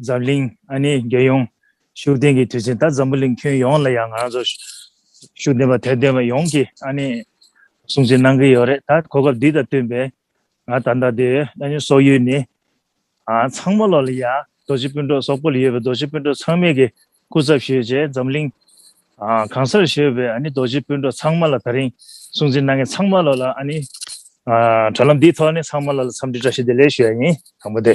འཛམ་གླིང་ཨ་ནེ་རྒྱལ་ཡོངས་ཤུགས་ལྡན་གྱི་དུས་ཆེན་ད་འཛམ་བུ་གླིང་ཁྱོན་ཡོངས་ལ་ཡང་ང་རང་ཚོ་ཤུགས་ལྡན་པ་དད་ལྡན་པ་ཡོངས་ཀྱི་ཨ་ནེ་སྲུང་བརྩི་གནང་གི་ཡོད་རེད་ད་གོ་སྐབས་འདི་དང་བསྟུན་པའི་ང་ད་ལྟ་དེ་ཨ་ནེ་སོག་ཡུལ་ནི་ཚང་མ་ལོག་ལ་ཡ་རྡོ་རྗེ་སྤུན་གྲོགས་སོག་པོ་ལ་ཡོད་པའི་རྡོ་རྗེ་སྤུན་གྲོགས་ཚང་མས་གི་སྐུ་ཚབ་ཞུས་རྗེས་འཛམ་གླིང་གང་སར་ཤོད་པའི་ཨ་ནེ་རྡོ་རྗེ་སྤུན་གྲོགས་ཚང་མ་ལ་ད་རིང་སྲུང་བརྩི་གནང་མཁན་ཚང་མ་ལོག་ལ་ཨ་ནེ་དྲ་ལམ་འདིའི་ཐོག་ནས་ཚང་མ་ལ་ལ་འཚམས་འདྲི་བཀྲ་ཤིས་བདེ་ལེགས་ཞུ་ཡ་ཡིན་དང་པོ་དེ།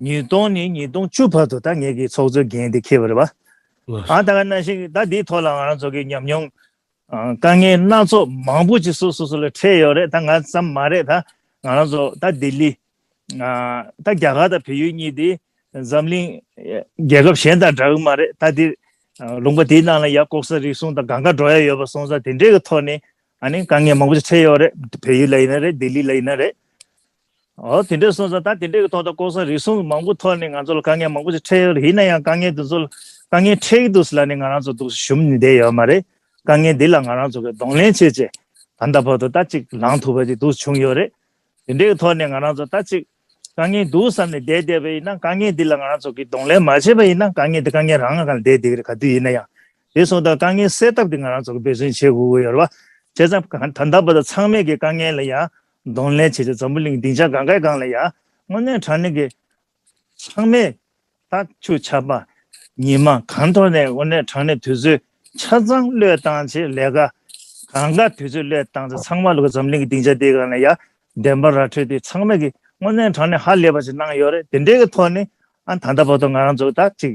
ཉིས་སྟོང་ནས་ཉིས་སྟོང་བཅུ་བར་དུ་ད་ངས་ཀྱི་ཚོགས་གཙོའི་འགན་དེ་འཁྱེར་བ་རེད་པ། ཨང་ད་ག་ན་ཞིག་ད་འདིའི་ཐོག་ལ་ང་རང་ཚོ་གི་ཉམས་མྱོང། དཀའ་ངལ་སྣ་ཚོགས་མང་པོ་ཅིག་སུ་སོ་སོ་ལ་འཕྲད་ཡོད་རེད་ད་ང་ཙམ་མ་རེད་ད་ང་རང་ཚོ་ད་ལྡི་ལི། ད་རྒྱ་གར་དང་བལ་ཡུལ་གཉིས་འདི་འཛམ་གླིང་རྒྱལ་ཁབ་གཞན་དང་འདྲ་གི་མ་རེད་ད་འདིར་ལུང་པ་དེའི་ནང་ལ་ཡར་ལྐོག་ཟ་རིག་གསུང་དང་གང་ག་འགྲོ་ཡ་ཡོད་པ་སོང་ས་དེ་འདྲའི་གི་ཐོག་ནས་ཨ་ནི་དཀའ་ངལ་མང་པོ་ཅིག་འཕྲད་ཡོད་རེད་བལ་ཡུལ་ལ་ཡིན་ན་རེད་ལྡི་ལི་ལ་ཡིན་ན་རེད། འོ་དེ་འདྲས་སོང་ཙང་ད་དེ་འདྲས་ཀྱི་ཐོག་ཏུ་ལྐོག་ཟ་རིག་གསུམ་གྱི་མང་པོ་ཐོག་ནས་ང་ཚོ་ལ་དཀའ་ངལ་མང་པོ་ཞིག་འཕྲད་ཡོད་རེད་ཡིན་ན་ཡང་དཀའ་ངལ་དེ་ཚོ་ལ་དཀའ་ངལ་འཕྲད་ཀྱི་འདུག་ཟེར་ལ་ནི་ང་རང་ཚོ་འདུག་སུ་ཞུམ་ནས་བསྡད་ཡོད་མ་རེད། དཀའ་ངལ་འདི་ལ་ང་རང་ཚོ་གིས་གདོང་ལེན་བྱེད་ཆེད་ད་ལྟ་བར་དུ་ད་ཅིག་ལངས་ཐུབ་པ་ཅིག་འདུག་བྱུང་ཡོད་རེད། དེ་འདྲས་ཀྱི་ཐོག་ནས་ང་རང་ཚོ་ད་ཅིག་དཀའ་ངལ་འདུག་བསམ་ནས་བསྡད་བསྡད་པ་ཡིན་ན་དཀའ་ངལ་འདི་ལ་ང་རང་ཚོ་གིས་གདོང་ལེན་མ་བྱས་པ་ཡིན་ན་དཀའ་ངལ་འདི་དཀའ་ངལ་རང་ངང་གང་ལ་བསྡད་བསྡད་ཀྱི་རེད་ག་དུས་ཡིན་ན་ཡང་དེ་སོང་ཙང་དཀའ་ངལ་སེལ་ཐབས་དེ་ང་རང་ཚོ་གིས་འབད་བརྩོན་བྱེད་དགོས་ཀྱི་ཡོད་རེད་བ། བྱས་ཙང་ད་ལྟ་བར་དུ་ཚང་མས་ཀྱི་དཀའ་ངལ་ལ་ཡང་གདོང་ལེན་བྱས་ཏེ་འཛམ་བུ་གླིང་སྡིངས་ཆ་གང་གཱའི་སྒང་ལ་ཡང་སྔོ་ནད་གྲངས་ལས་ཀྱི་ཚང་མས་ལྟག་ཆུ་ཆགས་པ། ཉི་མ་གང་འཐོར་ནས་སྔོ་ནད་གྲངས་ལས་དུས་ཚོད་ཆ་ཚང་བློས་བཏང་བྱེད་ལས་ཀ། གང་གཱ་དུས་ཚོད་བློས་བཏང་ཚེ་ཚང་མ་ལ་གོ་འཛམ་གླིང་གི་སྡིངས་ཆ་དེའི་སྒང་ལ་ཡང་བདེན་པ་ར་འཕྲོད་དེ་ཚང་མས་ཀྱི་སྔོ་ནད་གྲངས་ལས་ཧ་ལས་པ་ཞིག་གནང་ཡོད་རེད་དེ་འདྲའི་གི་ཐོག་ནས་ཨ་ད་ལྟ་བོ་ཏོ་ང་རང་ཚོ་ད་ཅིག་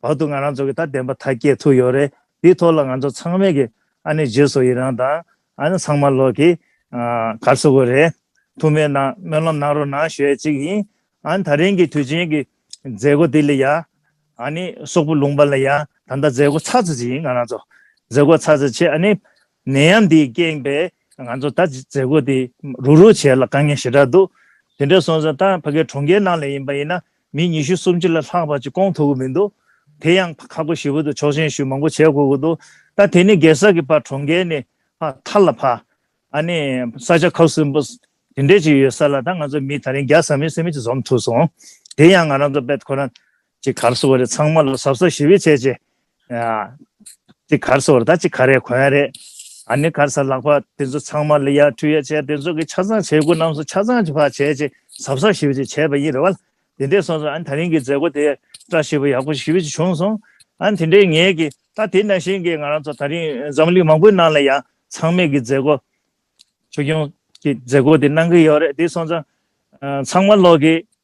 བར་དུ་ང་རང་ཚོ་གི་ད་བདེན་པ་ཐག་སྐྱེད་ཐུག་ཡོད་རེད་དེའི་ཐོག་ལ་ང་ཚོ་ཚང་མས་གི་ཨ་ནི་རྗེས་སུ་ཡི་རང་དང་ཨ་ནི་ཚང་མ་ལོག་གི་གར་སོ་གོ་རེད་ཐུག་མེད་ན་སྨོན་ལམ་གནང་རོགས་གནང་ཞོས་ཅིག་ཡིན་ཨ་ནི་ད་རིང་གི་དུས་ཆེན་གི་མཛད་སྒོ་དེ་ལ་ཡ་ཨ་ནི་སོག་པོ་ལུང་པ་ལ་ཡ་ད་ལྟ་མཛད་སྒོ་ཚགས་ཚུད་ཅིག་ཡིན་ང་རང་ཚོ་མཛད་སྒོ་ཚགས་ཚུད་ཆེད་ཨ་ནི་ནད་ཡམས་དེའི་རྐྱེན་པས་ང་ཚོ་ད་མཛད་སྒོ་དེ་རུག་རུག་བྱས་ལ་དཀའ་ངལ་ཞེ་དྲག་འདུག་དེ་འདྲ་སོང་ཟིན་ད་ཕ་གི་གྲོང་ཁྱེར་ནང་ལ་ཡིན་པ་ཡིན་ན་མི་ཉི་ཤུ་སུམ་ཅུ་ལ་ལྷག་བར་གྱི་སྐོང་ཐུབ་ཀྱི་མི་འདུག་དེ་ཡང་ཁག་པོ་ཞི་བོ་དུ་ཆོག་མཆན་ཞུ་མང་པོ་བྱས་དགོས་ཀྱི་འདུག་ད་དེ་ནས་གེ་སར་གྱི་བར་གྲོང་ཁྱེར་ནས་མཐར་ལ་ཕ། ཨ་ནི་ས་ཆ་ཁག་གསུམ་པོ་དེ་འདྲས་ཅིག་ཡོད་ས་ལ་ད་ང་ཚོ་མི་ད་རིང་བརྒྱ་ཟ་མིན་སེ་མིན་ཅིག་འཛོམས་ཐུབ་སོང་དེ་ཡང་ང་རང་ཚོ་པད་ཁོ་རང་གི་གར་སོ་བ་རེ་ཚང་མ་ལ་ཟབ་ཟབ་ཞི་བའི་བྱས་རྗེས་ཅིག་གར་སོར་ད་ཅིག་ག་རེ་གོ་ཡ་རེད། ཨ་ནི་གར་ས་ལག་པ་དེ་ཚོ་ཚང་མ་ལ་ཡ་ཁྲུས་ཡ་བྱས་དེ་ཚོ་གི་ཆ་ཚང་བྱེད་དགོས་རྣམས་སུ་ཆ་ཚང་བྱེད་བྱས་ཅིག་གཟབ་གཟབ་ཞིབ་ཅིག་བྱས་པ་ཡིན་རེད་བ། དེ་འདྲས་སོང་ཚོ་ཨ་ནི་ད་རིང་གི་མཛད་སྒོ་དེ་བཀྲ་ཤིས་པོ་ཡག་པོ་ཞིབ་ཅིག་བྱུང་སོང། ཨ་ནི་དེ་འདྲས་ངེད་ཀྱི་ད་དེ་ན་བཞིན་གི་ང་རང་ཚོ་ད་རིང་འཛམ་གླིང་མང་པོའི་ནང་ལ་ཡང་ཚང་མས་གི་མཛད་སྒོ། ཆོས་སྐྱོང་གི་མཛད་སྒོ་དེ་གནང་གི་ཡོད་རེད་དེ་སོང་ཚོ། ཚང་མ་ལོག་གི་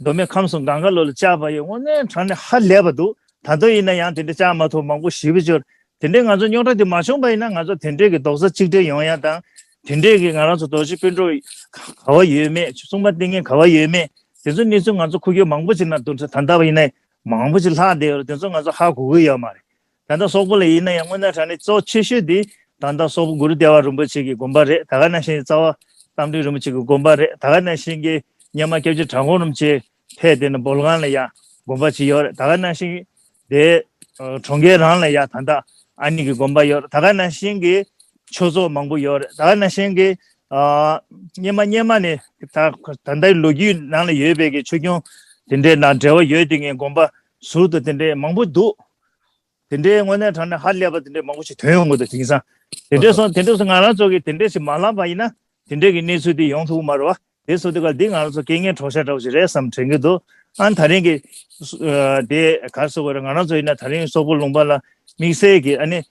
མདོ་སྨད་ཁམས་སུ་གངས་དཀར་ལོ་ལ་བཅའ་བ་ཡི་དངོས་གནས་གྲངས་ནི་ཧ་ལས་པ་འདུག་ད་དུང་ཡིན་ན་ཡང་དེ་འདྲ་བཅའ་མ་ཐུབ་མང་པོ་ཞི་བར་གྱུར། དེ་འདྲའི་ང་ཚོ་རྙོག་དྲ་དེ་མ་བྱུང་པ་ཡིན་ན་ང་ཚོ་དེ་འདྲའི་གི་རྡོག་རྩ་གཅིག་སྒྲིལ་ཡོང་ཡ་དང། དེ་འདྲའི་གི་ང་རང་ཚོ་རྡོ་རྗེ་དཔོན་གྲོགས་ག་བ་ཡོད་མེད་ཆུ་སྲུང་མ་ཏིང་ངེ་ག་བ་ཡོད་མེད་དེ་ཚོ་གནས་ཚུལ་ང་ཚོ་ཁུར་རྒྱུ་མང་པོ་ཅིག་ན་འདུག་ད་ལྟ་བ་ཡིན་ན་མང་པོ་ཅིག་ལྷག་བསྡད་ཡོད་རེད་དེ་ཚོ་ང་ཚོ་ཧ་གོ་གི་ཡོད་མ་རེད། ད་ལྟ་སོག་པོ་ལ་ཡིན་ན་ཡང་སྔོན་ན་དྲ་གནས་གཙོ་ཆེ་ཤོས་དེ་ད་ལྟ་སོག་པོ་གུ་རུ་ལྟེ་བ་རིན་པོ་ཆེ་གི་དགོན་པ་རེད་ད་ག་ན་ཤེན་རྩ་བ་རྟ་མགྲིན་རིན་པོ་ཆེ་གི་དགོན་པ་རེད་ད་ག་ན་ཤེན་གྱི་སྙེ་མ་སྐྱབས་རྗེ་གྲྭ་གོང་རིན་པོ་ཆེ་ཕེ་དེ་ན་འབོ་ལྒང་ལ་ཡང་དགོན་པ་ཅིག་ཡོད་རེད་ད་ག་ན་ཤེན་དེའི་གྲོང་ཁྱེར་རང་ལ་ཡང་ད་ལྟ་ཨ་ནི་གི་དགོན་པ་ཡོད་རེད་ད་ག་ན་ཤེན་གྱི་ཆོས་ཚོགས་མང་པོ་ཡོད་རེད་ད་ག་ན་ཤེན་གྱི་སྙེ་མ་སྙེ་མ་ནི་ད་ལྟའི་ལོ་རྒྱུས་ནང་ལ་ཡོད་པའི་གི་ཆོས་སྐྱོང་དེ་འདྲའི་ནང་འབྲེལ་བ་ཡོད་དེ་ངའི་དགོན་པ་ཟུར་དུ་དེ་འདྲའི་མང་པོ་འདུག་དེ་འདྲའི་དངོས་གནས་དྲང་གནས་ཧ་ལས་པ་དེ་འདྲའི་མང་པོ་ཞིག་དོན་ཡོང་དགོས་འདུག་དེང་སང་དེ་འདྲས་སོང་དེ་འདྲས་སོང་ང་རང་ཚོ་གིས་དེ་འདྲས་ཞིག་མ་བསླངས་པ་ཡིན་ན་དེ་འདྲས་ཀྱི་གནས་ཚུལ་དེ་ཡོང་ཐུབ་ཀྱི་མ་རེད་བ་དེ་སོ་དེ་ག་འདི་ང་རང་ཚོ་སྐད་ངན་གྲོགས་ཤ་འདྲ་བོ་ཞིག་རེད་བསམ་དྲན་གྱི་འདུག་ཨང་ད་རིང་གི། དེ་ག་སོ་གོ་རེད་ང་རང་ཚོ་ཡིན་ན་ད་རིང་སོག་པོ་ལུང་པ་ལ་དམིགས་བསལ་གྱིས་ཨ་ནི་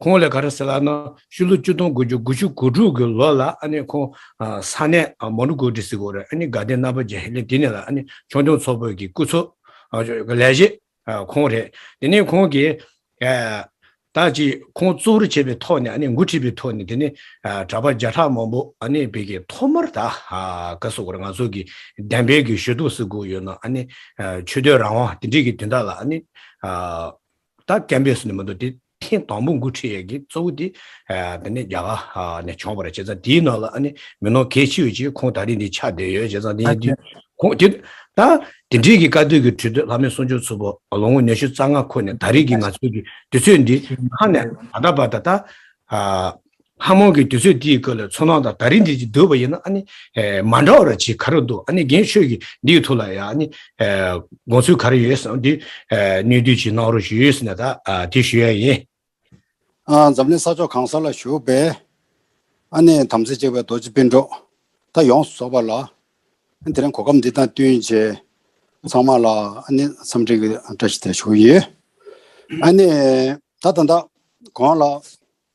ཁོང་ལས་ག་རེ་ཟེར་ལགས་ན་ཕྱི་ལོ་བཅུ་སྟོང་དགུ་བཅུ་དགུ་ཕྱི་དགུ་དྲུག་གི་ལོ་ལ་ཨ་ནི་ཁོང་ས་གནས་མོ་ནུ་ཀོ་ཏི་སི་ཀོ་རེ་ཨ་ནི་དགའ་ལྡན་རྣམ་པ་རྗེ་ཧེ་ལེ་དེ་ནས་ལ་ཨ་ནི་ཆོས་སྐྱོང་ཚོགས་པོད་ཀྱི་སྐུ་ཚོགས་ཀྱི་ལས་བྱེད་ཁོང་རེད་དེ་ནས་ཁོང་གིས་ད་ཅི་ཁོང་གཙོ་བོར་བྱས་པའི་ཐོག་ནས་ཨ་ནི་འགོ་ཁྲིད་པའི་ཐོག་ནས་དེ་ནས་གྲྭ་པ་བརྒྱ་ཕྲག་མང་པོ་ཨ་ནི་བོད་ཀྱི་ཐོག་མར་ད་ག་སོ་ཀོ་རེ་ང་ཚོ་གི་བདེན་པའི་གི་ཞོལ་དུ་སི་ཀོ་ཡོད་ན་ཨ་ནི་ཆོས་དོན་རང་དབང་དེ་འདྲིས་གི་དོན་དག་ལ་ཨ་ནི་ད་ཀན་པས་སུ་ནི་མི་འདུག་དེ་ཐེངས་དང་པོ་མགོ་ཁྲིད་ཡག་གི་གཙོ་བོ་དེ་རྒྱ་གར་ནས་བྱུང་བ་རེད་བྱས་ཙང་དེའི་ནང་ལ་ཨ་ནི་མི་ནོར་གལ་ཆེ་ཡོད་ཅེས་ཁོང་ད་རེས་འདི་ཆགས་བསྡད་ཡོད་བྱས་ཙང་དེ་ཡིན་དུས་ཁོང་དེ་ད་དེ་འདྲིའི་གི་བཀའ་སྡོད་གི་ཁྲོད་དུ་ལྷ་མོའི་གསུང་ཆོས་ཚུར་པོ་ལོ་ངོ་ཉི་ཤུ་རྩ་ལྔ་འཁོར་ནས་ད་རེས་གི་ང་ཚོའི་གི་དུས་ཚོད་འདི་ཁ་ནས་ད་ལྟ་བར་ད་ལྟ་ལྷ་མོ་གི་དུས་ཚོད་འདིའི་སྐབས་ལ་མཚོན་ན་དང་ད་རིང་འདི་ཅིག་བསྡུར་བ་ཡིན་ན་ཨ་ནི། མ་འདྲ་བ་ར་ཅིག་ག་རེ་འདུག་ཨ་ནི་རྒན་ཆོས་ཀྱིས་འདིའི་ཐུགས་ལ་ཡང་ཨ་ནི། དགོངས་ཚུལ་ག་རེ་ཡོད་ཟེར་ན་འདི། སྣོད་བསྡུས་ཅིག་གནང་རོགས་ཞུས་ཡོད་ཟེར་ནས་ད་དེ་ཞུས་ཡ་ཡིན། འཛམ་གླིང་ས་ཕྱོགས་གང་ས་ལ་བཞུགས་པའི། ཨ་ནི་དམ་ཚིག་གཅིག་པའི་རྡོ་རྗེ་སྤུན་གྲོགས་ད་ཡོངས་སུ་རྫོགས་པ་ལ། དེ་རིང་གོ་སྐབས་འདི་དང་བསྟུན་བྱས་ཚང་མ་ལ་ཨ་ནི་འཚམས་འདྲི་གི་བཀྲ་ཤིས་བདེ་ལེགས་ཞུ་ཡི། ཨ་ནི། ད་ད་ད། གང་ལགས།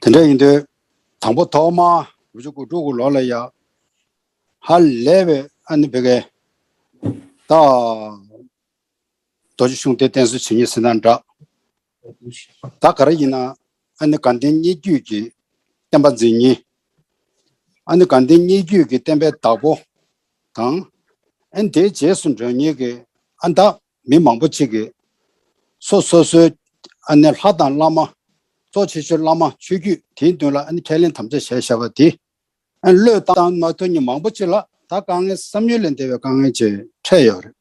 དེ་འདྲ་ཡིན་དུས། དང་པོ་ཐོག་མ་བུ་ཆུ་ཀུ་ཀྲུ་ཀུ་ལོག་ལ་ཡ། ཧ་ལས་པའི་ཨ་ནི་བི་ཀའི། ད། རྡོ་རྗེ་གཞུང་དེ་བསྟན་སྲོལ་ཇི་སྙེད་ཟིན་ན་འདྲ། ད་ག་རེ་ཡིན་ན་ཨ་ནི་དགའ་ལྡན་སྙིགས་རྒྱུད་ཀྱི་བསྟན་པ་འཛིན་ཉིན། ཨ་ནི་དགའ་ལྡན་སྙིགས་རྒྱུད་ཀྱི་བསྟན་པའི་བདག་པོ་དང། ཨན་དེའི་རྗེས་སུ་འགྲོ་ཉིན་གྱི་ཨ་བདག། མི་མང་པོ་གཅིག་གིས་སོ་སོ་སོའི་ལྷ་དང་བླ་མ། གཙོ་ཆེ་ཤོས་བླ་མ་ཆོས་བརྒྱུད་དེའི་མདུན་ལ་ཁས་ལེན་དམ་བཅའ་བྱས་བཞག་པ་དེ། བློས་བཏང་མ་ཐུབ་མྱི་མང་པོ་གཅིག་ལ་ད་དཀའ་ངལ་བསམ་ཡུལ་ལས་འདས་པའི་དཀའ་ངལ་གཅིག་འཕྲད་ཡོད་རེད།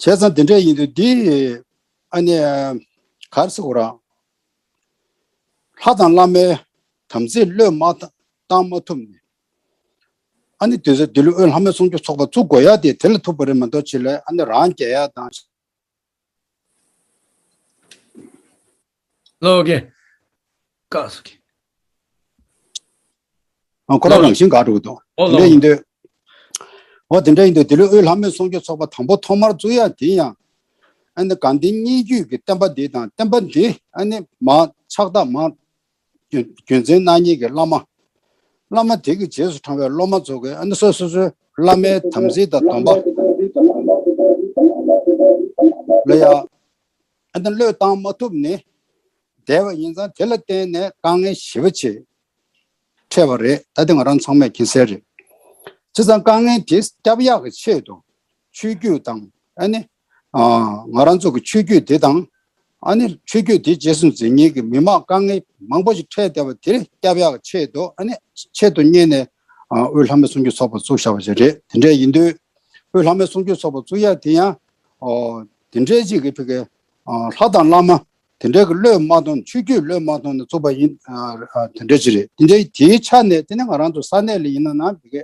བྱས་ཙང་དེ་འདྲས་ཡིན་དུས་འདི་ཨ་ནི་གར་སོང་རང། ལྷ་དང་བླ་མའི་དམ་ཚིག་བློས་མ་བཏང་མ་ཐུབ་ནས་ཨ་ནི་དེ་ཚོས་དེ་ལོའི་དབུས་ལྷ་མོའི་སྲུང་སྐྱོབ་ཚོགས་པ་བཙུགས་དགོས་ཡ་དེ་དེ་ལ་ཐུག་པ་རེད་མ་གཏོགས་ཆེད་ལས་ཨ་ནི་རང་རྒྱལ་ཡ་དང། ལོག་གི། ཀག་སུ་གི། ཨ་ཁོ་རང་རང་བཞིན་དགའ་འགྲོ་གི་འདུག་འོ་དེ་འདྲ་ལོག་ཡིན་དུས། འོ་དེ་འདྲ་ཡིན་དུས་དེ་ལོའི་དབུས་ལྷ་མོའི་སྲུང་སྐྱོབ་ཚོགས་པ་དང་པོ་ཐོག་མར་བཙུགས་ཡ་དེ་ཡང། ཨ་ནི་གངས་ལྡན་སྙན་བརྒྱུད་ཀྱི་བསྟན་པ་འདི་དང་བསྟན་པ་འདི་ཨ་ནི་མང་ཕྱག་རྟགས་མང། རྒྱུ་མཚན་སྣང་བརྙན་གྱི་བླ་མ། བླ་མ་དེ་གི་རྗེས་སུ་འབྲང་བའི་སློབ་མ་ཚོ་གི་ཨ་ནི་སོ་སོ་སོའི་བླ་མའི་དམ་ཚིག་དང་སྡོམ་པ། ལ་ཡང་ཨ་ནི་བློས་བཏང་མ་ཐུབ་ནི་བདེ་བ་ཡིན་ཙང་དེ་ལ་བརྟེན་ནས་དཀའ་ངལ་ཞི་བ་ཆེ་ཕྲད་བ་རེད་ད་དེ་ང་རང་ཚང་མས་མཁྱེན་གསལ་རེད། ཅི་ཙང་དཀའ་ངལ་དེ་སྐྱབས་ཡག་གི་ཆེད་དུ་ཆོས་བརྒྱུད་དང་ཨ་ནི་ང་རང་ཚོ་གི་ཆོས་བརྒྱུད་དེ་དང། ཨ་ནི་ཆོས་བརྒྱུད་དེ་རྗེས་སུ་འཛིན་མཁན་གི་མི་མང་དཀའ་ངལ་མང་པོ་ཞིག་འཕྲད་བསྡད་པ་དེར་སྐྱབས་ཡག་ཆེད་དུ་ཨ་ནི་ཆེད་དུ་བསྙེན་ནས་དབུས་ལྷ་མོའི་གསུང་རྒྱུན་ཚོགས་པ་བཙུགས་བཞག་པ་ཞིག་རེད་དེ་འདྲས་ཡིན་དུས། དབུས་ལྷ་མོའི་གསུང་རྒྱུན་ཚོགས་པ་བཙུགས་ཡག་དེ་ཡང། དེ་འདྲས་ཅིག་གི་ཕི་གེ། ལྷ་དང་བླ་མ་དེ་འདྲས་གི་བློས་མ་ཐོངས་ཆོས་བརྒྱུད་བློས་མ་ཐོངས་ནས་བཙུགས་པ་ཡིན། དེ་འདྲས་ཅིག་རེད་དེ་འདྲས་དེའི་ཆ་ནས་དེ་ནི་ང་རང་ཚོ་ས་གནས་ལ་ཡིན་ན་ནང་ཕི་གེ།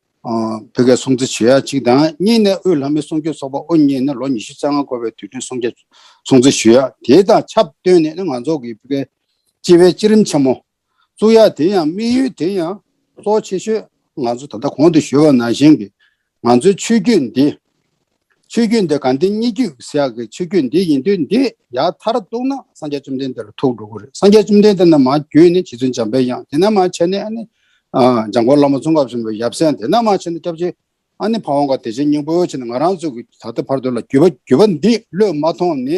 བོད་སྐད་སྲུང་བརྩི་བྱེད་ཡ་གཅིག་དང་གཉིས་ནས་དབུས་ལྷ་མོའི་གསུང་ཆོས་ཚོགས་པ་དབུ་བརྙེས་ནས་ལོ་ཉི་ཤུ་རྩ་ལྔ་འཁོར་བའི་དུས་དྲན་སྲུང་བརྩི་སྲུང་བརྩི་ཞུ་ཡ་དེ་དང་ཆབས་བསྟུན་ནས་ནི་ང་ཚོ་གི་བོད་སྐད་སྤྱི་བའི་སྤྱི་རིམ་ཆེན་མོ་བཙུགས་ཡ་དེ་ཡང་དམིགས་ཡུལ་དེ་ཡང་གཙོ་ཆེ་ཤོས་ང་ཚོ་ད་ལྟ་གོང་དུ་ཞུས་པ་ནང་བཞིན་གྱི་ང་ཚོའི་ཆོས་བརྒྱུད་འདི་ཆོས་བརྒྱུད་འདི་གང་དེ་སྙིགས་དུས་ཟེར་ཡག་གི་ཆོས་བརྒྱུད་འདི་ཡིན་དུས་འདི་ཡག་མཐར་གཏུགས་ན་སངས་རྒྱས་བཅོམ་ལྡན་འདས་ལ་ཐུག་འགྲོ་གི་རེད་སངས་རྒྱས་བཅོམ་ལྡན་འདས་ནི་མ་བརྒྱུད་ནི་རྗེ་བཙུན་འཇམ་པའི་དབྱངས་དེ་ནི་མ་བྱས་ནི་ཨ་ནི། འཇམ་མགོན་བླ་མ་ཙོང་ཁ་བཞིན་པའི་ཡབ་སྲས་དེ་ནི་མ་བྱས་ནི་སྐྱབས་རྗེ་ཨ་ནི་ཕ་ཝང་ཀ་བདེ་ཆེན་སྙིང་པོ་བྱས་ནི་ང་རང་ཚོ་གི་ད་ལྟ་བར་དུ་ལ་བརྒྱུད་པ་བརྒྱུད་པ་འདི་བློས་མ་ཐོངས་ནི་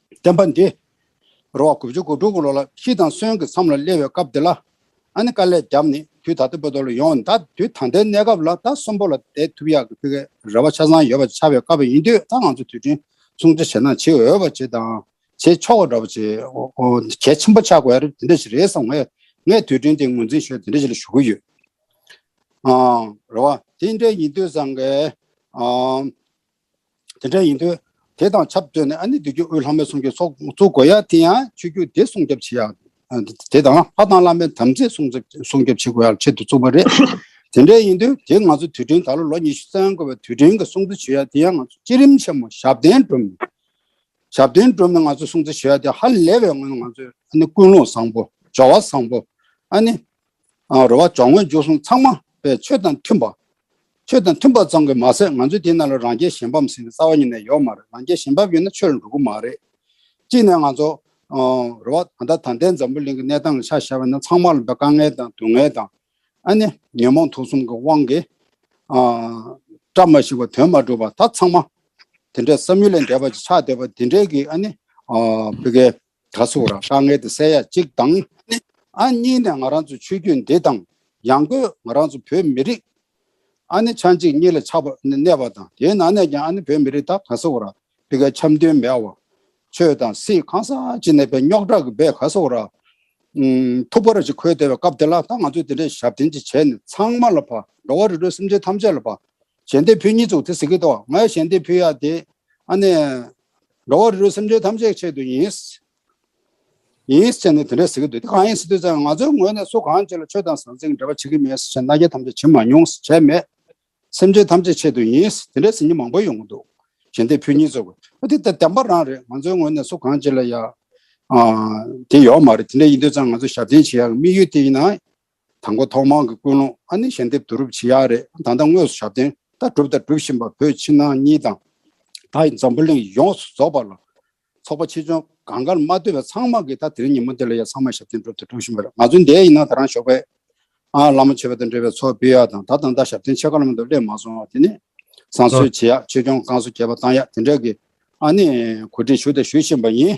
བསྟན་པ་འདི། རུ་བ་དགུ་བཅུ་དགུ་དྲུག་ལོ་ལ་ཤི་དང་གསོན་གྱི་མཚམས་ལ་སླེབས་བའི་སྐབས་འདི་ལ། ཨ་ནི་དཀའ་ལས་བརྒྱབ་ནས་དུས་ད་ལྟ་བོད་དོ་ལ་ཡོང་བ་འདའ་དུས་ད་ལྟའི་གནས་སྐབས་ལ་ད་གསོན་པོ་ལ་བསྡད་ཐུབ་ཡག་གི་ཕི་གའི་རེ་བ་ཆ་ཚང་ཡོད་པ་ཆགས་པའི་སྐབས་ཡིན་དུས་ད་ང་ཚོ་དུས་དྲན་སྲུང་བརྩི་བྱེད་ན་བྱེད་འོས་པ་བྱེད་དང་བྱེད་ཆོག་པ་འདྲ་བོ་བྱེད། གལ་ཆེན་པོ་ཆགས་དགོས་དེ་འདྲ་ཞིག་རེད་བསམ་ངས་ངས་དུས་དྲན་དེ་ངོས་འཛིན་ཞོར་དེ་འདྲ་ཞིག་ལ་ཞུགས་ཀྱི་ཡོད། རུ་བ། དེ་འདྲ་ཡིན་དུས་སང་གེ། དེ་འདྲ་ཡིན་དུས། དེ་དང་ཆབས་བསྟུན་ནས་ཨ་ནེ་བདུད་རྒྱུད་དབུས་ལྷ་མོའི་གསུང་རྒྱུན་སོགས་བཙུགས་དགོས་ཡ་དེ་ཡང་ཆོས་རྒྱུད་སྡེ་སྲུང་སྐྱོབ་བྱེད་ཡག་དེ་དང་ལྷ་དང་བླ་མའི་དམ་ཚིག་སྲུང་སྐྱོབ་བྱེད་དགོས་ཡག་ཆེད་དུ་བཙུགས་པ་རེད། དེ་འདྲ་ཡིན་དུས་དེ་ང་ཚོ་དུས་དྲན་ད་ལོ་ལོ་ཉི་ཤུ་རྩ་ཡང་འགོར་བའི་དུས་དྲན་གྱི་སྲུང་བརྩི་བྱེད་ཡ་དེ་ཡང་ང་ཚོ་སྤྱི་རིམ་ཆེན་མོ་ཞབས་བརྟན་སྒྲོམ་ནས་ཞབས་བརྟན་སྒྲོམ་ནས་ང་ཚོ་སྲུང་བརྩི་བྱེད་ཡ་དེ་ཧ་ལས་པའི་ངང་ནས་ང་ཚོས་ཨ་ནེ་ཀུན་སློང་བཟང་པོ་ཇོ་བ་བཟང་པོ་ཨ་ནེ། རོལ་བ་འཇོག་ངོས་འཇུག་གསུམ་ཚང་མ་པའི་ཆོས་དང་མཐུན་པ། ཆོས་དང་མཐུན་པ་ཙམ་གྱི་མ་ཟད་ང་ཚོས་དེ་རྣམས་ལ་རང་རྒྱལ་གཞན་ཕམ་ཟེར་བའི་རྩ་བ་གཉིས་ནས་ཡོད་མ་རེད་རང་རྒྱལ་གཞན་ཕམ་ཡོད་ན་ཆོས་ལ་འགྲོ་གི་མ་རེད། གཅིག་ནས་ང་ཚོ། རོལ་བ་ད་ལྟ་དང་ལྡན་འཛམ་བུ་གླིང་གི་གནས་སྟངས་ལ་ཆ་བཞག་པ་ན་ཚང་མ་ལ་འདུག་དཀའ་ངལ་དང་སྡུག་བསྔལ་དང། ཨ་ནི་ཉོན་མོངས་དུག་གསུམ་གྱི་དབང་གིས། བཀྲ་མ་ཤིས་པ་དོན་མ་གྲུབ་པ་ད་ཚང་མ། དེ་འདྲའི་བསམ་ཡུལ་ལས་འདས་པ་ཅིག་ཆགས་སྡོད་པ་དེ་འདྲའི་གི་ཨ་ནི། བོད་སྐད། གྲྭ་ཚུགས་རང་དཀའ་ངལ་དེ་སེལ་ཡ་གཅིག་དང་ནི། ཨ་གཉིས་ནས་ང་རང་ཚོའི་ཆོས་བརྒྱུད་འདི་དང། ཡང་སྒོས་ང་རང་ཚོ་བོད་མི་རིགས། ཨ་ནི་ཆ་གཅིག་གཉིས་ལ་ཆགས་པ་གནས་པ་དང་དེའི་ནང་ནས་ཀྱང་ཨ་ནི་བོད་མི་རིགས་དག་གྲྭ་ཚུགས་ར་པི་ཀ་འཆམ་མཐུན་མེད་བ། ཆོས་དང་སྲིད་གང་ས་ཅི་ནས་པའི་རྙོག་དྲག་གི་བའི་ག་ཚུགས་ར། ཐུག་པ་ར་ཅིག་འཁོལ་བསྡད་པའི་སྐབས་དེ་ལ་ད་ང་ཚོས་དེ་འདྲའི་ཞབས་འདྲེན་ཅིག་བྱས་ནས་ཚང་མ་ལ་ཕ་འགྲོ་བ་རི་ཁྲོད་སེམས་ཅན་ཐམས་ཅད་ལ་ཕ། ཞལ་འདེབས་ཕུལ་གཉིས་ཚུགས་དེ་ཟེར་གི་འདུག་ང་ཡང་ཞལ་འདེབས་ཕུལ་ཡ་དེ། ཨ་ནི། འགྲོ་བ་རིལ་རུལ་སེམས་ཅན་ཐམས་ཅད་ཆེད་དུ་ཡིན། ཡིན་ཟེར་ནས་དེ་འདྲ་ཟེར་གྱི་འདུག་དེ་གང་ཡིན་ཟེར་དུས་ཙང་ང་ཚོའི་ངོས་ནས་སུ་གང་ཅི་ལ་ཆོས་དང་ཟང་ཟིང་འབྲེལ་བ་བྱེད་ཀྱི་མེད་ཟེར་བྱས་ན་རྒྱ་ཐམས་ཅད་བྱེད་མ་མྱོང་ཟེར་བྱས་མེད། སེམས་ཅན་ཐམས་ཅད་ཆེད་དུ་ཡིན་དེ་འདྲ་ཟེར་མྱི་མང་པོ་ཡོང་གི་འདུག་གཞན་དེ་ཕུ་གཉིས་ཚོ་གོ་འོ་དེ་ད་དམ་པ་རང་རེད་ང་ཚོའི་ངོས་ནས་སུ་གང་ཅི་ལ་ཡ། དེ་ཡོག་མ་རེད་དེ་འདྲ་ཡིན་དུས་ཙང་ང་ཚོ་ཞབས་བརྟན་བྱེད་ཡག་གི་དམིགས་ཡུལ་དེ་ཡིན་ན། དང་པོ་ཐོག་མང་གི་ཀུན་སློང་ཨ་ནི་ཞལ་འདེབས་བསྡུ་རུབ་བྱེད་ཡག་རེད་ད་ལྟ་དངོས་སུ་ཞབས་བརྟན་ལྟ་གྲུབ་དང་སྒྲུབ་བཞིན་པ་བོད་ཕྱི་ནང་གཉིས་དང། ད་ཡི་འཛམ་བུ་གླིང་ཡོངས་སུ་རྫོགས་པ་ལ། ཚོགས་པ་ཆེ་ཆུང་གང་དགར་མ་ལྟོས་པའི་ཚང་མ་གིས་ད་དེ་རིང་ཉིན་མོ་འདི་ལ་ཡང་ཚང་མ་ཞབས་བརྟན་སྒྲུབ་དང་སྒྲུབ་བཞིན་པ་རེད་ང་ཚོའི་འདས་ཡི་ནང་ད་རང་ཞོགས་པའི། ཨང་བླ་མ་ཆོས་པ་དང་འབྲེལ་བའི་ཚོགས་སྤེལ་ཡག་དང་ད་དང་ད་ཞབས་བརྟན་ཆེ་ཁག་ལམ་དུ་སླེབས་མ་སོང་བ་དེ་ནས། བསང་གསོལ་བྱེད་ཡག་ཆོས་སྐྱོང་བསྐང་གསོ་རྒྱས་པ་བཏང་ཡག་དེ་འདྲ་གི། ཨ་ནི་གོ་སྒྲིག་ཞུ་དང་ཞུ་བཞིན་པ་ཡིན།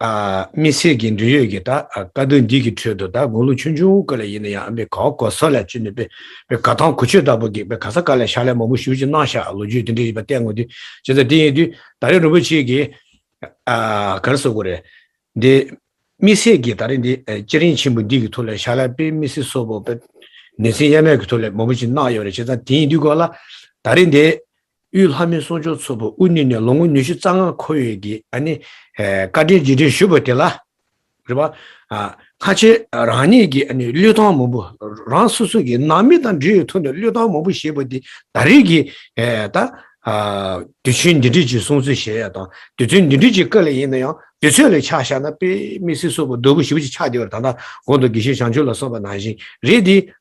དམིགས་བསལ་གྱི་འབྲེལ་ཡོད་ཀྱི་བཀའ་བསྡུར་འདི་གི་ཁྲོད་དུ་དགུང་ལོ་ཆུང་ཆུང་ཀ་ལ་ཡིན་ན་ཡང་ཨ་མའི་ག་འོ་གོ་ས་ལ་བཅུ་ནས་པའི་ག་ཐང་གོ་ཆོད་ལྟ་བུ་གིས་པའི་ག་ས་ཀ་ལ་ཤ་ལས་མོ་མོ་ཞུ་ཅིག་གནང་ཤག་ལོ་རྒྱུས་དེ་འདྲ་ཡིན་པ་བལྟས་ངོ་དུས་བྱས་ཙང་དེ་ཡིན་དུས་ད་རེས་རིན་པོ་ཆེ་གིས་གར་སོ་གོ་རེད་འདི། དམིགས་བསལ་གྱིས་ད་རེས་འདི་སྐྱ་རེངས་ཆེན་པོ་འདི་གི་ཐུགས་ལ་ཤ་ལ་པའི་མི་སེར་སོ་པོ་པའི་ནེ་ཚན་གཡར་མེད་གི་ཐུགས་ལ་མོ་མོ་ཅིག་གནང་ཡོད་རེད་བྱས་ཙང་དེ་ཡིན་དུས་གོ་ལ་ད་རེས་འདི་དབུས་ལྷ་མོའི་གསུང་ཆོས་ཚོགས་པ་དབུས་ནུས་ནས་ལོ་ངོ་ཉི་ཤུ་རྩ་ལྔ་འཁོར་ཡོད་ཀྱི་བཀའ་དྲིན་རྗེས་དྲན་ཞུ་འབོད་དེ་ལ། རེ་བ། ཁ་ཆེ་རང་ཉིད་ཀྱི་གླུད་ཐང་མང་པོ་རང་སོ་སོ་ཀྱི་ནང་མི་དང་འབྲེལ་ཡོད་ཐུག་ནས་གླུད་ཐང་མང་པོ་བཞེས་པ་འདི་ད་རེས་ཀྱི་དུས་ཆེན་འདི་འགྲིག་ཅེས་གསུང་ཚུལ་གཞལ་ཡས་དང་དུས་ཚོད་འདི་འགྲིག་ཅེས་བཀའ་ལས་ཡིན་ན་ཡང་དུས་ཚོད་ལས་ཆགས་བཞག་ན་དཔེ་མི་སྲིད་སོགས་པ་རྡོལ་བུ་བཞི་བོ་ཅིག་ཆགས་བསྡད་པར་ད་ལྟ་གོང་དུ་དགེ་བཤེས་བྱང་ཆུབ་ལ་སོགས་པ་ནང་བཞིན་རེད་དེ།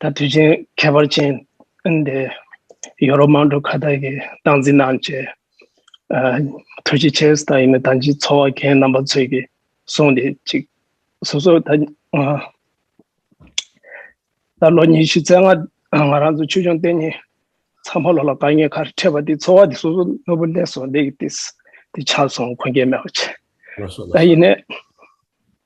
ད་དུས་ཆེན་ཁྱད་པར་ཅན་དེ་ཡོ་རོབ་མང་གྲུ་ཁ་ཐག་གི་སྟངས་འཛིན་དང་བཅས་གྲུ་ཆེ་ཆེ་ས་ཡིན་ན་ད་ཅི་འཚོ་བ་མཁན་རྣམ་པ་ཚོས་ཀྱིས་སོང་དེ་ཅིག་སོ་སོ་ད་ད་ལོ་ཉི་ཤུ་རྩེ་ལྔ་ང་རང་ཚོ་ཆོས་སྐྱོང་བསྟན་གཉིས་ཚང་ཕ་ལོ་ལ་དཀའ་ངལ་ཁར་འཕྲད་པ་དེ་འཚོ་བ་དེ་སོ་སོ་ནོར་བུ་ལས་སོ་ལས་ཀྱི་དེ་ཆགས་སོང་འཁོན་སྐྱེལ་མེད་པ་བྱས་ད་ཡིན་ནས།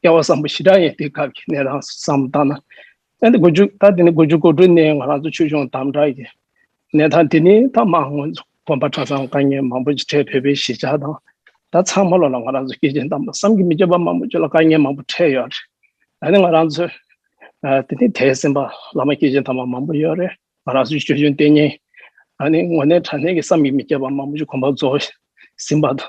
བསྐལ་བ་བཟང་པོ་ཞི་དྲག་ཡིན་དུས་སྐབས་ཀྱི་གནས་སྟངས་སུ་བསམ་བློ་བཏང་ན། ད་དགུ་འཇུག་ད་དེ་ནི་དགུ་འཇུག་གོ་དྲུག་ནི་ང་རང་ཚོ་ཆོས་གཞུང་དམ་དྲག་གི་གནས་སྟངས་དེ་ནི་ད་མ་ཧོན་དགོན་པ་གྲྭ་ཚང་དཀའ་ངལ་མང་པོ་ཆེ་འཕྲད་བོད་པའི་གཞིས་ཆགས་དང་ད་ཚང་མ་ལོ་ལ་ང་རང་ཚོ་སྐད་ཆེན་དམ་པོ་བསམ་གྱི་མི་སྐྱོ་པ་མང་པོ་ཆེ་ལ་དཀའ་ངལ་མང་པོ་འཕྲད་ཡོད་རེད་ད་ནི་ང་རང་ཚོས་དེ་ནི་དད་སེམས་པ་བླ་མ་སྐད་ཆེན་དམ་པ་མང་པོ་ཡོད་རེད་ང་རང་ཚོའི་ཆོས་གཞུང་བརྟན་ཉེན་ད་ནི་ངོ་ནས་དྲ་གནས་ཀྱི་བསམ་གྱི་མི་སྐྱོ་པ་མང་པོ་ཆེ་གོམ་པ་རྫོགས་ཟིན་པ་དང།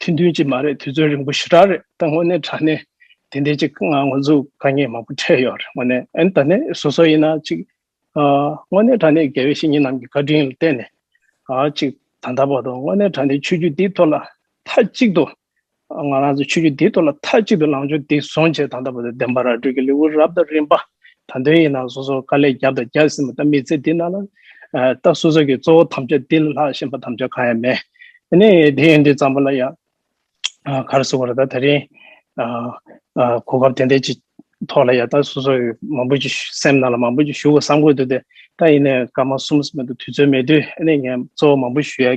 ཁྲིན་ཏུན་གྱིས་མ་རེད་དུས་ཚོད་རིང་པོ་ཞེ་དྲག་རེད་ད་དངོས་གནས་དྲ་གནས་དེ་འདྲའི་གཅིག་ང་ངོ་ཚོ་དཀའ་ངལ་མང་པོ་འཕྲད་ཡོད་རེད་དངོས་གནས་ཨན་ད་ནས་སོ་སོ་ཡིན་ན་གཅིག་དངོས་གནས་དྲ་གནས་དགེ་བའི་བཤེས་གཉེན་རྣམས་ཀྱི་བཀའ་དྲིན་ལ་བརྟེན་ནས་གཅིག་ད་ལྟ་བར་དུ་དངོས་གནས་དྲ་གནས་ཆོས་བརྒྱུད་འདིའི་ཐོག་ལ་མཐའ་གཅིག་ཏུ་ང་རང་ཚོ་ཆོས་བརྒྱུད་འདིའི་ཐོག་ལ་མཐའ་གཅིག་ཏུ་ལངས་ཕྱོགས་འདི་བཟུང་བྱས་ད་ལྟ་བར་དུ་བདེན་པ་ར་སྤྲོད་ཀྱི་ལེའུ་རབ་དང་རིམ་པ་དང་དོན་ཡིན་ན་སོ་སོར་དཀའ་ལས་བརྒྱབ་དང་བརྒྱབ་ཟིན་པ་ལྟ་མི་ཚེ་འདི་ན་ལ་ལྟ་སོ་སོ་གི་གཙོ་བོ་དམ་བཅའ་འདི་ལ་ལྷག་བཞིན་པ་དམ་བཅའ་གང་ཡང་མེད་དེ་ནས་དེ་ཡིན་དུས་ཙམ་པོ་ལ་ཡང་གར་སོང་བར་ད་ད་རིང་གོ་སྐབས་དེ་འདྲ་ཅིག་ཐོག་ལ་ཡང་ལྟ་སོ་སོ་མང་པོ་ཅིག་སེམས་ནང་ལ་མང་པོ་ཅིག་ཞུ་དགོས་བསམ་དགོས་འདུག་སྟེ་ད་ཡིན་ནས་སྐར་མ་གསུམ་ཟིན་པ་འདུག་དུས་ཚོད་མེད་དུས་ཨ་ནེ་ངས་གཙོ་བོ་མང་པོ་ཞུ་ཡ་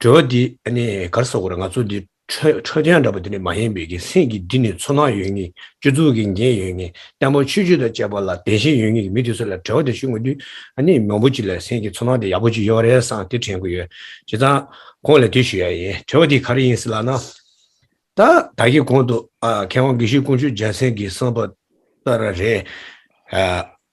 དྲི་བ། འདི་ནི་གར་ས་གོ་རེད་ང་ཚོ་འདི་ཁྲོད་ཁྲོད་ཆེན་འདྲ་པོ་འདི་ནི་མ་ཡིན་པའི་གིན་སེང་གིས་འདི་ནི་ཚོར་སྣང་ཡོད་ངེས་སྤྱོད་ཚུལ་གིས་འགན་ཡོད་ངེས་བརྟན་པོ་ཆོས་བརྒྱུད་དང་བཅས་པ་ལ་དད་ཞེན་ཡོད་ངེས་ཀྱི་མི་དེ་ཚོ་ལ་དྲི་བ་དེ་ཞུ་དགོས་དུས་ནི་མང་པོ་ཅིག་ལ་སེང་གིས་ཚོར་སྣང་དེ་ཡག་པོ་ཅིག་ཡོད་རེད་བསམ་དེ་དྲན་གི་ཡོད་བྱས་ཙང་ཁོང་ལ་དེ་ཞུ་ཡག་ཡིན་དྲི་བ་འདི་ག་རེ་ཡིན་སེ་ལགས་ན། ད་ད་གི་གོང་དུ་མཁས་དབང་དགེ་བཤེས་ཀུན་སྤྱོད་རྒྱལ་མཚན་གྱིས་གསུངས་པ་ལྟར་རེད།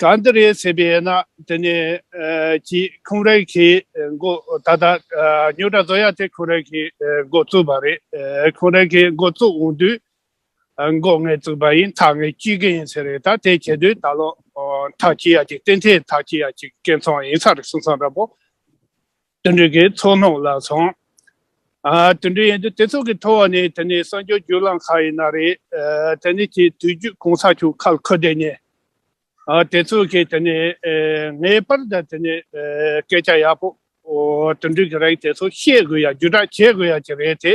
གང་འདི་རེད་ཟེར་བས་ན་དེ་ནས་ཀྱི་ཁུང་རེ་གི་མགོ་ད་ལྟ་སྨྱོ་དྲ་བཟོ་ཡ་དེ་ཁུང་རེ་གི་མགོ་བཙུགས་པ་རེད་ཁུང་རེ་གི་མགོ་བཙུགས་འོང་དུས་མགོ་ངས་བཙུགས་པ་ཡིན་ཐག་ངས་གཅོད་གི་ཡིན་ཟེར་རེད་ད་དེ་བྱེད་དུས་ད་ལོ་ཐག་གཅོད་ཡ་གཅིག་བསྟན་འཐེན་ཐག་གཅོད་ཡ་གཅིག་སྐད་འཚང་ཡིན་ས་རེད་གསུངས་སང་ར་པོ། དོན་འགྲུལ་གྱི་ཚོགས་ནང་ལ་སོང། དོན་འགྲུལ་ཡིན་དུས་དེ་ཚོ་གི་ཐོག་ནས་དེ་ནི་གསང་སྤྱོད་བརྒྱུད་ལམ་ཁག་ཡིན་ན་རེད། དེ་ནི་དེ་དུས་བརྒྱུད་གོང་ས་མཆོག་ཁ་ལ་འཁོད་དེ་ནས། དེ་ཚོ་གིས་དེ་ནི་ངའི་པར་དང་དེ་ནི་སྐད་ཆ་ཡག་པོ། དོན་འགྲུལ་གྱི་རིགས་དེ་ཚོ་བཤད་དགོས་ཡ་བརྒྱུད་བསྒྲགས་བྱེད་དགོས་ཡ་གྱི་རེད་དེ།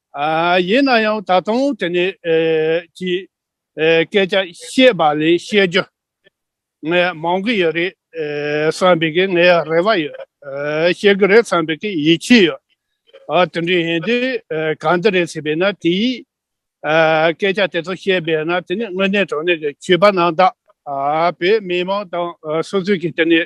ཡིན་ན་ཡང་ད་དུང་དེ་ནས་ཀྱི་སྐད་ཆ་བཤད་པ་ལས་བཤད་རྒྱུ་ངས་མང་གི་ཡོད་རེད་བསམ་པའི་གི་ངའི་རེ་བ་ཡོད། བཤད་གི་རེད་བསམ་པའི་གི་ཡིད་ཆེས་ཡོད། དེ་འདྲའི་ཡིན་དུས་གང་འདི་རེད་ཟེར་པས་ན་དེའི་སྐད་ཆ་དེ་ཚོ་བཤད་པས་ན་དེ་ནས་དངོས་གནས་དྲང་གནས་ཀྱི་བྱིས་པ་རྣམས་དག་བོད་མི་མང་དང་སོ་སོས་ཀྱི་དེ་ནས་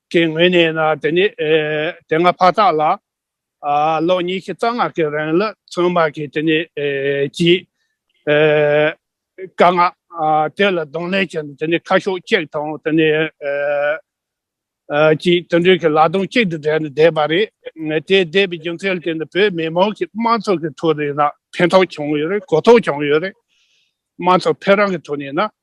ཀྱི་ངོས་ནས་ན་དེ་ནི་དེ་སྔ་ཕ་དག་ལ་ལོ་ཉིས་ཤུ་རྩ་ལྔ་གི་རིང་ལ་ཚོང་དམག་གིས་དེ་ནི་གྱིས། དཀར་ནག་དེ་ལ་གདོང་ལེན་བྱས་ནས་དེ་ནི་ཁ་ཤོག་གཅིག་དང་དེ་ནི་གྱིས་དུད་འགྲོའི་གི་ལག་སྟོང་གཅིག་ཏུ་སྦྲེལ་ནས་བསྡད་པ་རེད། དེ་བསྡད་པའི་རྒྱུ་མཚན་དེ་ནི་བོད་མི་མང་གི་དམངས་ཚོགས་ཀྱི་ཐོག་ནས་ན་ཕན་ཐོགས་བྱུང་ཡོད་རེད་གོ་རྟོགས་བྱུང་ཡོད་རེད། དམངས་ཚོགས་ཕན་རང་གི་ཐོག་ནས་ན་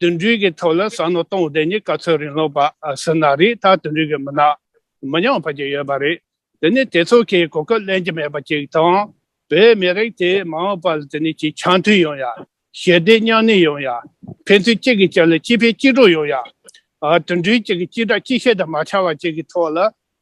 དུད་འགྲོའི་གི་ཐོག་ལ་ཟ་སྣོད་གཏོང་བ་དེ་ནི་ག་ཚོད་རིང་ལོག་པ་ཟིན་ན་རིགས་ལྟར་དུད་འགྲོའི་གི་མི་ནག་མི་ཉམས་བར་གྱི་ཡོད་པ་རེད། དེ་ནི་དེ་ཚོ་གི་གོ་སྐབས་ལེན་གྱི་མེད་པ་ཅིག་དང། བོད་མི་རིགས་དེ་མ་འོངས་པ་ལ་དེ་ནི་གྱི་འཆམ་མཐུན་ཡོང་ཡ། ཞི་བདེ་མཉམ་གནས་ཡོང་ཡ། ཕན་ཚུན་གཅིག་གི་གཅིག་ལ་གཅིག་ཕན་གཅིག་གྲོགས་ཡོང་ཡ། དུད་འགྲོའི་གི་གཅིག་སྒྲ་གཅིག་བཤད་དུ་མ་ཆ་བ་ཅིག་གི་ཐོག་ལ་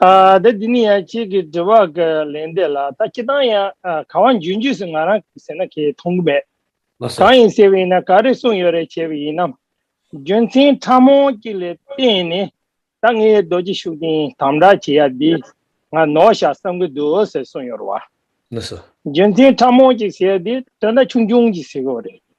ད་འདི་ནི་ཡང་ཁྱེད་ཀྱི་དྲི་བ་གི་ལན་འདེབས་ལ་ད་ཁྱེད་རང་ཡང་གང་བ་འཇུས་འཇུས་སུ་ང་རང་གིས་ཟེར་ན་ཁྱེད་མཐོང་གི་མེད། མ་ཟེར། གང་ཡིན་ཟེར་བ་ཡིན་ན་ག་རེ་གསུངས་ཡོད་རེད་བྱས་པ་ཡིན་ནམ། རྒྱུ་མཚན་ཕྲ་མོ་གཅིག་ལས་བརྟེན་ནས་ད་ངས་རྡོ་རྗེ་ཤུགས་ལྡན་དམ་དྲག་བྱེད་ཡ་འདི་ང་ནོར་བཞག་བསམ་གི་འདུག་ཟེར་གསུངས་ཡོད་རེད་བ། མ་ཟེར། རྒྱུ་མཚན་ཕྲ་མོ་གཅིག་ཟེར་ཡ་འདི་དོན་དག་ཆུང་ཆུང་གཅིག་ཟེར་གི་རེད།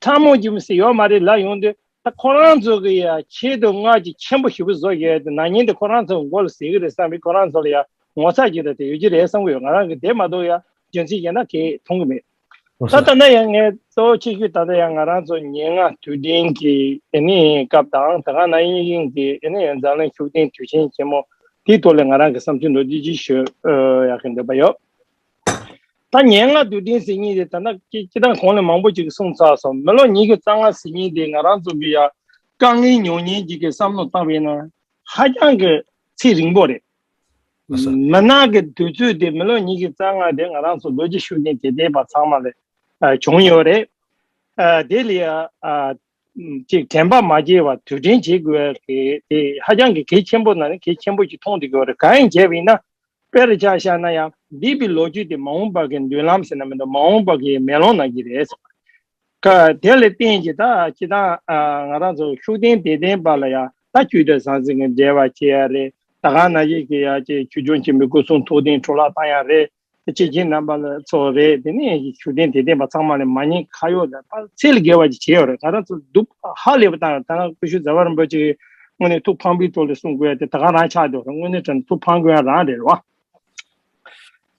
ཁྲ་མོ་རྒྱུ་མི་སྲིད་ཡོད་མ་རེད་ལབ་ཡོང་དུས་ད་ཁོ་རང་ཚོ་གི་ཡང་ཆེད་དུ་སྔར་གྱི་མཆན་བུ་ཞིག་བུ་བཟོ་གི་ཡོད་ནང་ཉིན་དེ་ཁོ་རང་ཚོ་གི་མགོ་ལ་ཟིག་གི་རེད་བསམ་པས་ཁོ་རང་ཚོ་ལ་ཡང་ངོ་ཚ་གྱི་རེད་དེ་ཡོད་ཀྱི་རེད་བསམ་གི་ཡོད་ང་རང་གིས་དེ་མ་གཏོགས་ཡང་རྒྱུ་མཚན་གཞན་ན་གིས་མཐོང་གི་མེད་ད་ལྟ་ན་ཡང་ངས་གཙོ་བོ་ཆེ་ཤོས་ད་ལྟ་ཡང་ང་རང་ཚོ་ཉེ་ལྔ་དུས་དྲན་གྱི་ཨེ་ནི་ཡིན་སྐབས་དང་ད་ག་ན་ཡིན་ཡིན་གྱི་ཨེ་ནི་ཡིན་འཛམ་གླིང་ཤུགས་ལྡན་དུས་ཆེན་ཆེན་མོ་དེའི་ཐོག་ལ་ང་རང་གི་བསམ་ཚུལ་འདུག་ཅི་ཞུ་ཡག་གི་འདོད་པ་ཡོད། ད་ཉེར་ལྔ་དུས་དྲན་ཟིན་ཉིན་དེ་ད་ནག་ཅིག་སྐྱིད་ཐང་གོང་ནས་མང་པོ་ཅིག་གིས་སྲུང་ཚར་སོང་མི་ལོ་ཉིས་ཀྱི་རྩ་ལྔ་ཟིན་ཉིན་དེ་ང་རང་ཚོ་གི་ཡང་དཀའ་ངལ་མྱོང་ཉེན་ཅིག་གི་བསམ་བློ་བཏང་བས་ན་ཧ་ཅང་གི་ཚེ་རིང་པོ་རེད། མི་ནག་གི་དུས་ཚོད་དེ་མི་ལོ་ཉིས་ཀྱི་རྩ་ལྔ་དེ་ང་རང་ཚོ་ལོ་རྒྱུས་ཤུགས་རྐྱེན་གྱེས་བསྡད་པ་ཚང་མ་ལས་བྱུང་ཡོད་རེད། དེ་ལས་གཅིག་དྲན་པ་མ་སྐྱེས་བར་དུས་དྲན་བྱེད་དགོས་པ་དེ་དེ་ཧ་ཅང་གི་གལ་ཆེན་པོ་ན་ནི་གལ་ཆེན་པོ་ཞིག་མཐོང་ཐུབ་དགོས་པ་རེད་གང་ཡིན་བྱས་པ་ཡིན་ན་དཔེར་ཆ་བཞག་ན་ཡང་འདས་པའི་ལོ་རྒྱུས་དེ་མ་འོངས་པ་གི་མདུན་ལམ་ཟེར་ན་མི་འདུག་མ་འོངས་པ་གི་མེ་ལོང་ན་གི་རེད་ཟེར་བ་ཀ་དེ་ལས་བརྟེན་གྱི་ད་ཅི་ཐང་ང་རང་ཚོ་ཤུགས་ལྡན་དད་ལྡན་པ་ལ་ཡང་ད་དཀྱུས་ལྟར་ཟང་ཟིང་གི་འབྲེལ་བ་བྱེད་ཡ་རེད་ད་གང་ན་ཡིན་གི་ཡ་ཅེ་ཆུ་ཆུང་ཆེན་པོའི་སྐུ་གསུང་ཐུགས་རྟེན་འཕྲོ་བརླག་བཏང་ཡ་རེད་དེ་ཕྱེད་ཀྱིས་རྣམ་པ་ལ་འཚོ་བ་རེད་དེ་ནས་ཞུ་བདེན་དེ་བདེན་པ་ཚང་མ་ལས་མ་ཉེས་ཁ་ཡོག་ལ་དཔག་ཚད་ལས་བརྒལ་བ་ཅིག་བྱས་ཡོད་རེད་ད་རང་ཚོ་སྡུག་ཧ་ལས་པ་དང་ད་ནང་ཀུ་ཤུ་ཛར་བ་རིན་པོ་ཆེ་ཡིས་དངོས་གནས་ཐུགས་ཕངས་པའི་ཐོག་ལས་གསུངས་དགོས་ཡ་དེ་ད་ག་རང་ཆགས་འགྲོ་རེད་དངོས་གནས་དྲན་ཐུགས་ཕངས་དགོས་ཡ་རང་རེད་རེད་བ།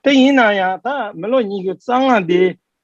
དེ་ཡིན་ན་ཡང་ད་མི་ལོ་གཉིས་ཀྱི་རྩ་སྔགས་འདི་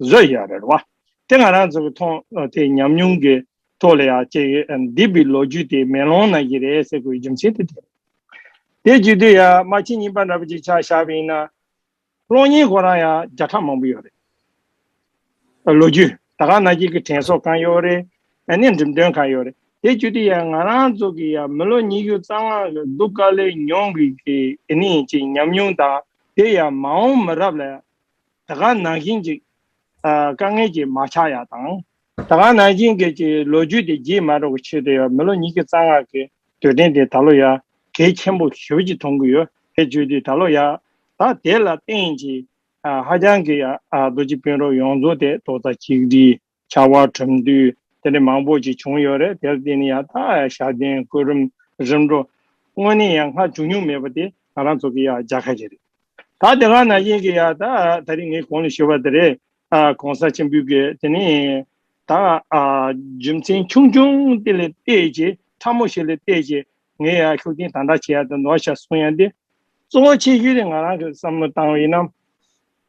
བཟོད་ཡ་རེད་བ། དེ་ང་རང་ཚོ་གི་ཐོག་དེ་ཉམས་མྱོང་གི་ཐོག་ལ་ཡ་ཅེ་འདི་པི་ལོ་རྒྱུས་དེ་མེ་ལོང་ནང་གི་རེད་ཟེར་དགོས་རྒྱུ་མཚན་དེ་དེ་རེད། དེ་བརྒྱུད་དུ་ཡ་དམར་ཆིང་གཉིས་པ་འདྲ་པོ་ཅིག་ཆགས་བཞག་པ་ཡིན་ན། གློག་བརྙན་ཁོ་རང་ཡ་བརྒྱ་ཕྲག་མང་པོ་ཡོད་རེད། ལོ་རྒྱུས་ད་ག་ནང་གི་གི་དྲན་སོགས་གང་ཡོད་རེད། ཡ་ནས་འགྲིམ་སྟོན་གང་ཡོད་རེད། དེ་བརྒྱུད་དུ་ཡ་ང་རང་ཚོ་གི་ཡ་མི་ལོ་ཉི་ཤུ་རྩ་ལྔ་གི་གདུགས་དཀར་ལས་མྱོང་གི་གི་ནི་ཅིག་ཉམས་མྱོང་དང་དེ་ཡ་མ་འོངས་མི་རབས་ལ་ད་ག་ནང་བཞིན་ཅིག། དཀའ་ངལ་གྱིས་མ་ཆགས་ཡག་དང། ད་ག་ནང་བཞིན་གྱི་ཅིག་ལོ་རྒྱུས་དེ་བརྗེད་མ་རོག་གི་ཆེད་དུ་ཡང་མི་ལོ་ཉིས་ཀྱི་རྩ་སྔགས་ཀྱི་དུས་དྲན་དེ་ད་ལོ་ཡ་གེ་ཆེན་པོ་ཞོལ་གྱིས་མཐོང་གི་ཡོད་དེ་བརྗོད་དུས་ད་ལོ་ཡ་ད་དེ་ལ་བརྟེན་ཅིག། ཧ་ཅང་གི་ཡག་རྡོ་རྗེ་དཔོན་རོག་ཡོངས་རྫོགས་དེ་ཏོག་ཙ་གཅིག་བསྒྲིལ། ཕྱར་བ་གྲུབ་འདུས་དེ་འདྲ་མང་པོ་ཞིག་བྱུང་ཡོད་རེད་དེར་བརྟེན་ནས་ཡང་དག་ཞག་བདུན་སྐུ་རུམ་རིམ་འགྲོ། དངོས་གནས་ཡང་སྔར་བྱུང་མྱོང་མེད་པ་དེ་ང་རང་ཚོ་གི་ཡང་བརྒྱ་ཁ་ཤས་རེད། ད་དེ་སྔ་ན་དབྱིན་གྱི་ཡང་དག་ད་རིང་ངས་གོང་ལ་ཞུས་པ་དེ་རེད། གོང་ས་ཆེན་པོའི་གིས་དེ་ནི་ད་རྒྱུ་མཚན་ཆུང་ཆུང་དེ་ལ་བལྟས་ཀྱི་ཕྲ་མོ་ཞིག་ལ་བལྟས་ཀྱི་ངས་ཡང་ཤུགས་རྐྱེན་དང་དྲག་བྱེད་ཡང་དག་ནོར་བྱ་སོང་ཡང་དེ་གཙོ་བོ་ཆེ་ཤོས་དེ་ང་རང་གི་བསམ་བློ་བཏང་བའི་ནམ་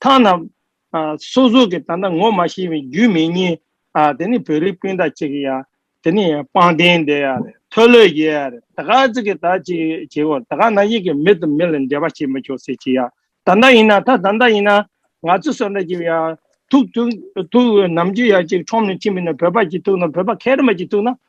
མཐའ་ན། སོ་སོ་གི་ད་ནངས་མ་ཤེས་པའི་རྒྱུས་མི་ཉན། དེ་ནི་བོད་རིགས་སྤུན་ཟླ་ཅིག་ཡ། དེ་ནི་པང་གདན་འདི་ཡ། ཐོལ་ལོས་ཡ། ད་ག་ཟིག་གི་ད་ཅིག་བྱེད་གོ། ད་ག་ན་ཡིག་གི་མི་དང་མི་ལ་འབྲེལ་བ་བྱེད་མི་ཆོག་ཟེར་ཅིག་ཡ། ད་ད་ཡིན་ན་ད་ད་ད་ཡིན་ན། ང་ཚོ་སོ་ད་ཅིག་ཡ། ཐུག། ཐུག། ནམ་ཅིག་ཡ་ཅིག་ཁྲོམ་ནས་ཕྱིན་པས་ན་བོད་པ་ཅིག་ཐུག་ན་བོད་པ་མཁལ་མ་ཅིག་ཐུག་ན།